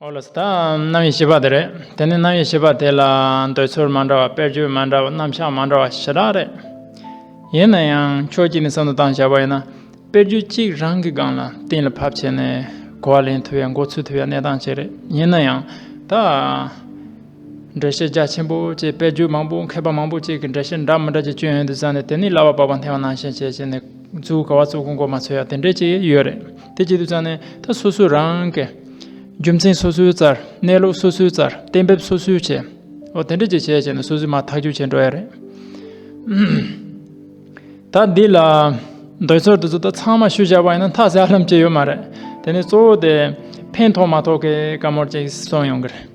ཨོ་ལོས་དེ་རྣམ་དབྱེ་ཞེས་པ་དེ་རེད། དེ་ནི་རྣམ་དབྱེ་ཞེས་པ་དེ་ལ་འདོད་ཚུལ་མ་འདྲ་བ་དཔེར་བརྗོད་མ་འདྲ་བ་རྣམ་གཞག་མ་འདྲ་བ་ཞེ་དྲག་རེད། ཡིན་ན་ཡང་ཕྱོགས་གཅིག་ནས་བསམ་བློ་བཏང་བཞག་པ་ཡིན་ན་དཔེར་བརྗོད་གཅིག་རང་གི་སྒང་ལ་གཏན་ལ་ཕབ་བྱས་ནས་གོ་བ་ལེན་ཐུབ་ཡ་མགོ་ཚུད་ཐུབ་ཡ་གནས་སྟངས་ཤིག་རེད་ཡིན་ན་ཡང་ད། འགྲེལ་བཤད་རྒྱ་ཆེན་པོ་བཅས་དཔེར་བརྗོད་མང་པོ་མཁས་པ་མང་པོ་བཅས་ཀྱི་འགྲེལ་བཤད་འདྲ་མི་འདྲ་བཅས་སྤྱོད་ཡོན་དུ་བསམ་ནས་དེ་ནི་གླ་བ་སྤགས་པ་འཐེན་བ་ནང་བཞིན་བྱས་བྱས་ནས་བརྫུས་ག་བ་བརྫུས་གོང་གོ་མ་ཚོད་ཡ་དེ་འདྲས་ཅིག་ཡོད་རེད། དེ་བྱེད་དུ་བཅངས་ནས་ད་སོ་སོའི་རང་གི། རྒྱུ་མཚན་སོ་སོའི་རྩར་གནས་ལུགས་སོ་སོའི་རྩར་གཏན་འབེབས་སོ་སོའི་བྱས། འོ་དེ་འདྲ་ཅིག་བྱས་བྱས་ནས་སོ་སོའི་མ་ཐག་གཅོད་བྱེད་འགྲོ་ཡ་རེད། ད་འདི་ལ། འདོད་ཚོད་དེ་ཚོ་ད་ཚང་མ་ཤུལ་བཞག་པ་ཡིན་ན་ཐག་བཅད་ལམ་བཅད་ཡོད་མ་རེད། དེ་ནས་གཙོ་བོ་དེ། ཕན་ཐོགས་མ་ཐོགས་ཀྱི་བཀའ་མོལ་ཅིག་སོང་ཡོང་གི་རེད།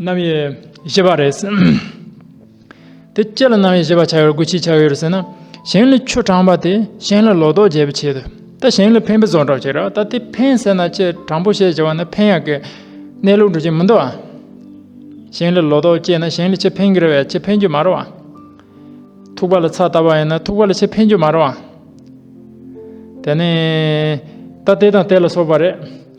རྣམ་དབྱེ་ཞེས་པ་རེད། དེ་སྐད་ལ་རྣམ་དབྱེ་ཞེས་པ་བྱ་བའི་དགོས་ཆེད་ཆགས་ཡོད་རེད་ཟེར་ན། གཞན་ལ་ཆུ་དྲངས་པ་དེ་གཞན་ལ་ལོག་རྟོག་འཇལ་བའི་ཆེད་དུ་ད་གཞན་ལ་ཕན་པའི་བཟོ་འདྲ་བྱེད་རོགས་ད་དེ་ཕན་ཟེར་ན་ཆེ་དྲང་པོ་བཤད་བྱ་བ་ན་ཕན་ཡག་གི་གནས་ལུགས་འགྲོ་གི་མི་འདུག་ཨ། གཞན་ལ་ལོག་རྟོག་སྐྱེས་ན་གཞན་ལ་ཆེ་ཕན་གི་རེད་བས་ཆེ་ཕན་རྒྱུ་མ་རེད་ཨ། ཐུག་པ་ལ་ཚ་བཏབ་པ་ཡིན་ན་ཐུག་པ་ལ་ཆེ་ཕན་རྒྱུ་མ་རེད་ཨ། དེ་ནི་ད་དེ་དང་དེ་ལ་སོགས་པ་རེད།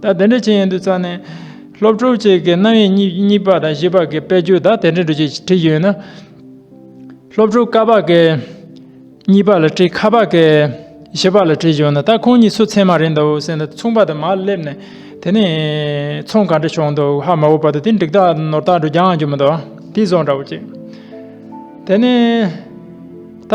ད་དེ་འདྲ་བྱེད་ཡོན་དུ་བརྩམས་ནས། སློབ་ཕྲུག་ཅིག་གི་རྣམ་གཡེང་གཉིས་པ་དང་བཞི་པ་གི་དཔེ་བརྗོད་ད་དེ་འདྲ་འགྲོ་ཅེས་བྲིས་ཡོད་ན། སློབ་ཕྲུག་ཀ་བ་གི་གཉིས་པ་ལ་བྲིས་ཁ་བ་གི་བཞི་པ་ལ་བྲིས་ཡོད་ན་ད་ཁོང་གཉིས་སུ་ཚད་མ་རེད་འདུག་སེམས་ལ་མཚུངས་པ་དང་མར་སླེབས་ནས་དེ་ནས་མཚུངས་ག་འདྲ་བྱུང་འདུག་ཧ་མ་བོ་བར་དུ་དེ་འགྲིག་ཐག་ནོར་ཐག་འགྲོ་རྒྱ་འགྱུར་མི་འདུག་དེ་བཟོ་འདྲ་བོ་ཅིག་དེ་ནས་ད།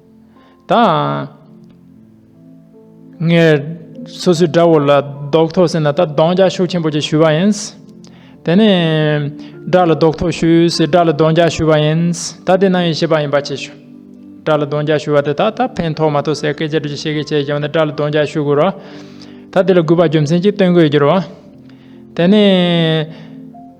དང། ངས་སོ་སོའི་དགྲ་བོ་ལ་རྡོག་ཐོ་ཟེར་ན་ད་གདོང་རྒྱག་ཤུགས་ཆེན་པོ་ཅིག་ཞུས་པ་ཡིན། དེ་ནས། དགྲ་ལ་རྡོག་ཐོ་ཞུ་ཞེས་དགྲ་ལ་གདོང་རྒྱག་ཞུས་པ་ཡིན། ད་དེ་གནང་ཡིན་ཞེས་པ་ཡིན་པ་ཆེ་ཞུ། དགྲ་ལ་གདོང་རྒྱག་ཞུ་བ་དེ་དག་ད་ཕན་ཐོགས་མ་ཐོགས་ཟེར་སྐད་ཆ་དྲི་ཆེ་གེ་བྱས་ཀྱང་ད་དགྲ་ལ་གདོང་རྒྱག་ཞུ་དགོས་རོགས། ད་དེ་ལ་གུས་པ་རྒྱུ་མཚན་གཅིག་སྟོན་དགོས་ཀྱི་རེད། དེ་ནས།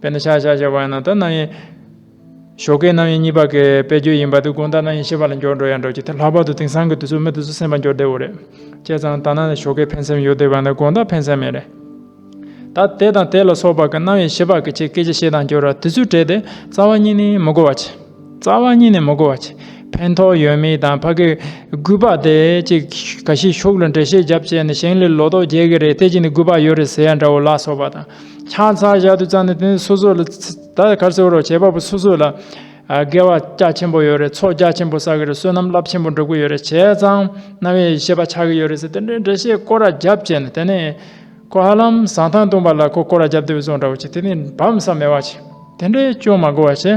དཔེར་ན་ཤ་ཤ་ཞེས་པ་ཡང་ན་ད་ནང་ཡིན། ཞོ་ཀའི་ནང་ཡིན་གཉིས་པ་ཀའི་དཔེ་བརྗོད་ཡིན་པ་དེ་དགོངས་དག་ནང་ཡིན་ཞེས་པ་ལ་འགྱུར་འགྲོ་ཡང་འགྲོ་ཅི་ཐུབ་ལྷག་པར་དུ་དེང་སང་གི་དུས་ཚོད་མི་དེ་ཚོ་སེམས་པ་འགྱུར་བདེ་བོ་རེད། བྱས་ཙང་ད་ནང་ནས་ཞོ་ཀའི་ཕན་སེམས་ཡོད་བསྡད་པ་ཡང་ན་དགོངས་དག་ཕན་སེམས་མེད་རེད། ད་དེ་དང་དེ་ལ་སོགས་པ་ཀ་ནང་ཡིན་ཞེས་པ་ཀྱི་ཆེད་སྐད་ཆ་བཤད་དང་བསྒྱུར་བ་དེ་ཚོས་བྲེལ་ཏེ་རྩ་བ་གཉིས་ནས་མི་གོ་བ་བྱེད། རྩ་བ་གཉིས་ནས་མི་གོ་བ་བྱེད། ཕན་ཐོགས་ཡོད་མེད་དང་ཕ་གིའི་རྒུད་པ་དེ་ཅིག་ག་ཤེད་ཤུགས་ལ་འགྲེལ་བཤད་རྒྱབ་བྱས་ནས་ཞིང་ལས་ལོ་ཏོག་རྒྱས་ཀྱི་རེད་དེ་ཅིག་ནས་རྒུད་པ་ཡོད་རེད་ཟེར་ཡ་འདྲ་བོ་ལ་སོགས་པ་དང། ཆང་ཚང་བཞག་དུས་ཙམ་ནས་དེ་ནས་སོ་སོ་ལ་ད་ལྟ་གར་སེར་བོ་རོགས་བྱེད་པ་པོ་སོ་སོ་ལ་དགེ་བ་རྒྱ་ཆེན་པོ་ཡོད་རེད་ཚོགས་རྒྱ་ཆེན་པོ་བསགས་ཀྱི་རེད་བསོད་ནམས་རླབས་ཆེན་པོ་འགྲུབ་ཀྱི་ཡོད་རེད་བྱས་ཙང་རྣ་བའི་ཤེས་པ་ཆགས་ཀྱི་ཡོད་རེད་ཟེར་དེ་འདྲའི་འགྲེལ་བཤད་སྐོར་ར་རྒྱབ་བྱས་ནས་དེ་ནས་ཁོ་ཧ་ལམ་བཟང་ཐང་བཏུངས་པ་ལ་ཁོ་སྐོར་ར་རྒྱབ་དེ་བུ་བཟོ་འདྲ་བོ་བྱས་དེ་ནས་བམ་ས་མེད་བ་བྱས་དེ་འདྲས་ཅུང་མ་གོ་བ་བྱས།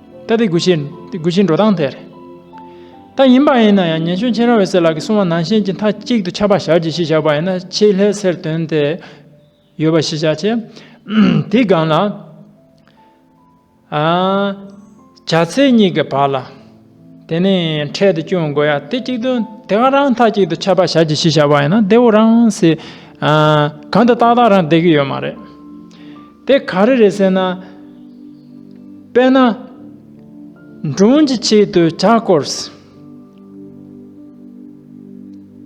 ད་དེ་དགོས་ཤེས་དགོས་ཤེས་འགྲོ་སྟངས་དེ་རེད། ད་ཡིན་པ་ཡིན་ན་ཡང་ཉན་ཞོན་ཆེན་ར་འོད་ཟེར་ལགས་ཀྱི་གསུང་བ་ནང་བཞིན་གྱི་མཐའ་གཅིག་ཏུ་ཆགས་པ་བཞག་གྱིས་ཞེས་བཞག་པ་ཡིན་ན་ཆེས་ལྷད་ཟེར་དོན་དེ་ཡོད་པ་ཤེས་བྱ་ཆེ། དེའི་སྒང་ལ། བྱ་ཚེ་གཉིས་ཀྱི་བར་ལ། དེ་ནི་འཕྲལ་དུ་སྐྱོན་དགོས་ཡ་དེ་གཅིག་ཏུ་དེ་ག་རང་མཐའ་གཅིག་ཏུ་ཆགས་པ་བཞག་གྱིས་ཞེས་བཞག་པ་ཡིན་ན་བདེ་བོ་རང་སེ། གང་དུ་ཏག་ཏག་རང་བདེ་གི་ཡོད་མ་རེད། དེ་ག་རེ་རེད་ཟེར་ན། དཔེར་ན། མགྲོན་གྱི་ཆེད་དུ་བྱ་སྐོར།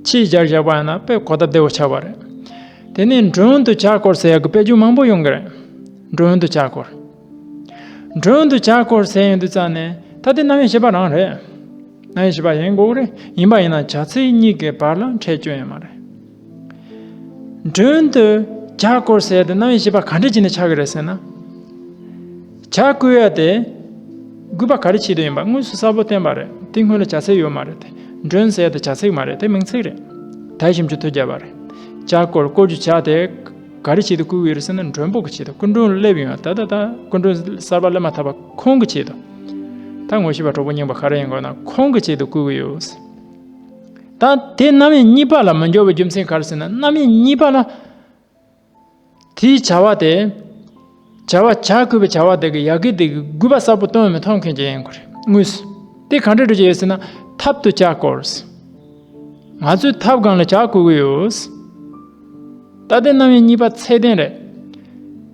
ཆེད་བྱར་བཞག་པ་ཡིན་ན་དཔེ་གོ་བརྡ་བདེ་བོ་ཆགས་པ་རེད། དེ་ནས་མགྲོན་དུ་བྱ་སྐོར་ཟེར་ཡག་གི་དཔེ་ཆུང་མང་པོ་ཡོང་གི་རེད། མགྲོན་དུ་བྱ་སྐོར། མགྲོན་དུ་བྱ་སྐོར་ཟེར་ཡོང་དུས་ཙང་ནས་ད་དེ་གནའ་བོའི་བྱིས་པ་རང་རེད། གནའ་བོའི་བྱིས་པ་ཡིན་དགོས་ཀྱི་རེད་ཡིན་པ་ཡིན་ན་བྱ་ཚིག་གཉིས་ཀའི་བར་ལ་འཕྲད་སྐྱོན་ཡོད་མ་རེད། མགྲོན་དུ་བྱ་བསྐོར་ཟེར་དེ་གནང་ཡིན་ཞེས་པ་ག་འདྲ་བྱས་ནས་བྱ་གི་རེད་ཟེར་ན། བྱ་བསྐོལ་བ་དེ་དགོས་པ་ག་རེ་བྱེད་དུ་ཡིན་པ་དངོས་སུ་གསལ་པོ་བསྟན་པ་རེད་དེ་སྔོན་ལ་བྱ་ཚིག་ཡོད་མ་རེད་དེ་མགྲོན་ཟེར་དེ་བྱ་ཚིག་མ་རེད་དེ་མིང་ཚིག་རེད་དད་ཞིམ་ཆུ་ཐོད་རྒྱབ་པ་རེད་བྱ་བསྐོལ་བསྐོལ་རྒྱུ་བྱ་དེ་ག་རེ་བྱེད་དུ་བསྐུལ་གི་ཡོད་རེད་ཟེར་ན་མགྲོན་པོ་གི་བྱེད་དུ་སྐུ་མགྲོན་སླེབས་ཡོང་ད་ལྟ་ད་སྐུ་མགྲོན་གསར་པ་སླེབས་མ་ཐག་པ་ཁོང་གི་བྱེད་དུ་ད་ངོ་ཤེས་པ་གྲོགས་པོ་རྙིང་པ་ག་རེ་ཡིན་དགོས་ན་ཁོང་གི་བྱེད་དུ་བསྐུལ་གི་ཡོད། དང། དེ་རྣམ་དབྱེ་གཉིས་པ་ལ་མི་འགྱུར་བའི་རྒྱུ་མཚན་ག་རེ་ཟེར་ན་རྣམ་དབྱེ་གཉིས་པ་ལ། དེའི་བྱ་བ་དེ། བྱ་བ་བྱ་དགོས་པའི་བྱ་བ་དེ་གི་ཡ་གི་དེ་གི་དགོས་པ་གསལ་པོ་སྟོན་འོས་མི་མཐོང་མཁན་གྱི་ཡིན་དགོས་རེད་དངོས་སུ། དེ་གང་འདྲའི་འགྲོ་གྱི་ཡོད་ཟེར་ན་ཐབས་དུ་བྱ་དགོས་རེད། ང་ཚོས་ཐབས་གང་ལ་བྱ་དགོས་ཀྱི་ཡོད། ད་དེ་རྣམ་དབྱེ་གཉིས་པ་ཚད་ལྡན་རེད།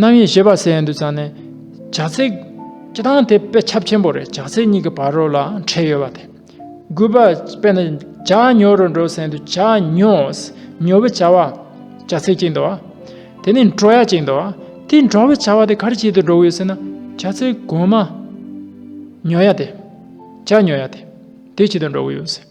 རྣམ་དབྱེ་ཞེས་པ་ཟེར་ཡང་འདུག་ཙང་ནས། བྱ་ཚིག། སྤྱི་དང་དེ་དཔེ་ཁྱབ་ཆེན་པོ་རེད་བྱ་ཚིག་གཉིས་ཀྱི་བར་རོ་ལ་འཕྲད་ཡོད་པ་དེ། དགུ་པ། དཔེར་ན། བྱ་ཉོ་རུ་འགྲོ་ཟེར་ཡང་འདུག་བྱ་ཉོ། ཉོ་བའི་བྱ་བ། བྱ་ཚིག་གཅིག་འདུག་བ། དེ་ནི་འགྲོ་ཡ་གཅིག་འདུག་བ། དེ་འགྲོ་བའི་བྱ་བ་དེ་ག་རེ་བྱེད་དུ་འགྲོ་གི་ཡོད་ཟེར་ན། བྱ་ཚིག་གོང་མ། ཉོ་ཡ་དེ། བྱ་ཉོ་ཡ་དེ། དེ་བྱེད་དུ་འགྲོ་གི་ཡོད།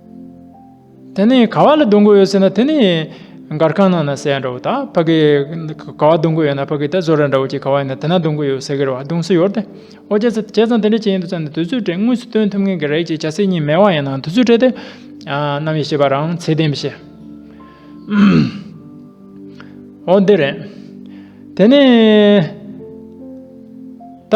དེ་ནས་ག་བ་ལ་སྡོང་གོ་ཡོད་ཟེར་ན་དེ་ནི་མགར་ཁང་ནང་ན་ཟེ་ཡ་འདྲ་བོ་དང་ཕ་གི་ག་བ་སྡོང་གོ་ཡོད་ན་ཕ་གི་ད་བཟོ་ར་འདྲ་བོ་ཅིག་ག་བ་ཡིན་ན་དེ་ན་སྡོང་གོ་ཡོད་ཟེ་གིར་བ་སྡོང་སུ་ཡོར་ཏེ་ཨོ་རྒྱལ་ཚ་བྱས་ཙང་དེ་འདྲ་བྱས་ཡིན་དུ་ཙང་ནི་དུས་ཚོད་བྲེལ་དངོས་སུ་སྟོན་ཐུབ་མཁན་གི་རེད་ཅེས་བྱ་སེ་གཉིས་མེད་བ་ཡིན་ནའང་དུས་ཚོད་བྲེལ་ཏེ་ནམ་ཡིན་ཤེས་པ་རང་ཚེ་བདེན་པས་ཤེས། འོ་འདི་རེད། དེ་ནས། ད།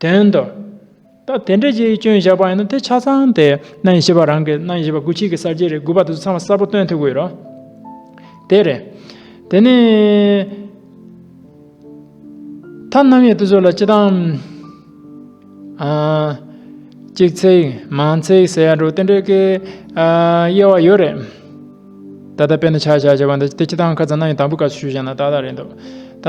དོན་དུ། ད་དེ་འདྲའི་རྗེས་ཀྱི་སྐྱོན་བཞག་པ་ཡིན་ན་དེ་ཆ་ཚང་དེ་རྣམ་ཤེས་པ་རང་གི་རྣམ་ཤེས་པ་དགུ་ཕྱིས་ཀྱི་གསར་བརྗེ་རེད་དགུ་པ་དེ་ཚོ་ཚང་མ་གསར་པོ་སྟོན་ཐུབ་གི་རེད། དེ་རེད། དེ་ནས། ཐ་རྣམ་དབྱེ་དེ་ཚོ་ལ་སྤྱི་དང། གཅིག་ཚིག་མང་ཚིག་ཟེར་ཡ་འགྲོ་དེ་འདྲའི་ཀའི། དབྱེ་བ་ཡོད་རེད། ད་ལྟ་དཔེ་ནི་ཆ་བཞག་བྱས་པ་འདི་སྤྱི་དང་ཁ་ཚང་རྣམ་དབྱེ་དང་པོའི་སྐབས་སུ་ཞུས་བཞག་ན་ཏག་ཏག་རེད་འདུག་ད།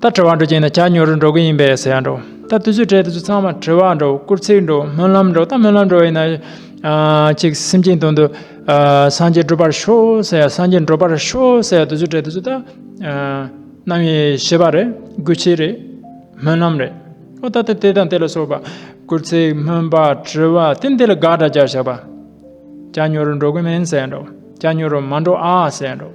ད་དྲི་བ་འགྲོ་གྱིན་ན་ཇག་ཉོ་རུ་འགྲོ་གི་ཡིན་པས་ཟེར་ཡ་འགྲོ། ད་དུས་ཚོད་དྲས་དུས་ཚོད་ཚང་མ་དྲི་བ་འགྲོ་བསྐུར་ཚིག་འགྲོ་སྨོན་ལམ་འགྲོ་ད་སྨོན་ལམ་འགྲོ་ཡིན་ན། ཅིག་སེམས་ཅན་དོན་དུ་སངས་རྒྱས་བསྒྲུབ་པར་ཤོག་ཟེར་ཡ་སངས་རྒྱས་འགྲོ་པར་ཤོག་ཟེར་ཡ་དུས་ཚོད་དྲས་དུས་ཚོད་ད། གནང་བའི་ཤེས་པ་རེད་སྒུལ་བྱེད་རེད་སྨོན་ལམ་རེད། ཨོ་ད་དེ་དང་དེ་ལ་སོགས་པ། བསྐུར་ཚིག་སྨོན་པ་དྲི་བ་དེ་འདི་ལ་དགག་སྒྲ་སྦྱར་བཞག་པ། ཇག་ཉོ་རུ་འགྲོ་གི་མིན་ཟེར་ཡ་འགྲོ་ཇག་ཉོ་རུ་མ་འགྲོ་ཨ་ཟེར་ཡ་འགྲོ།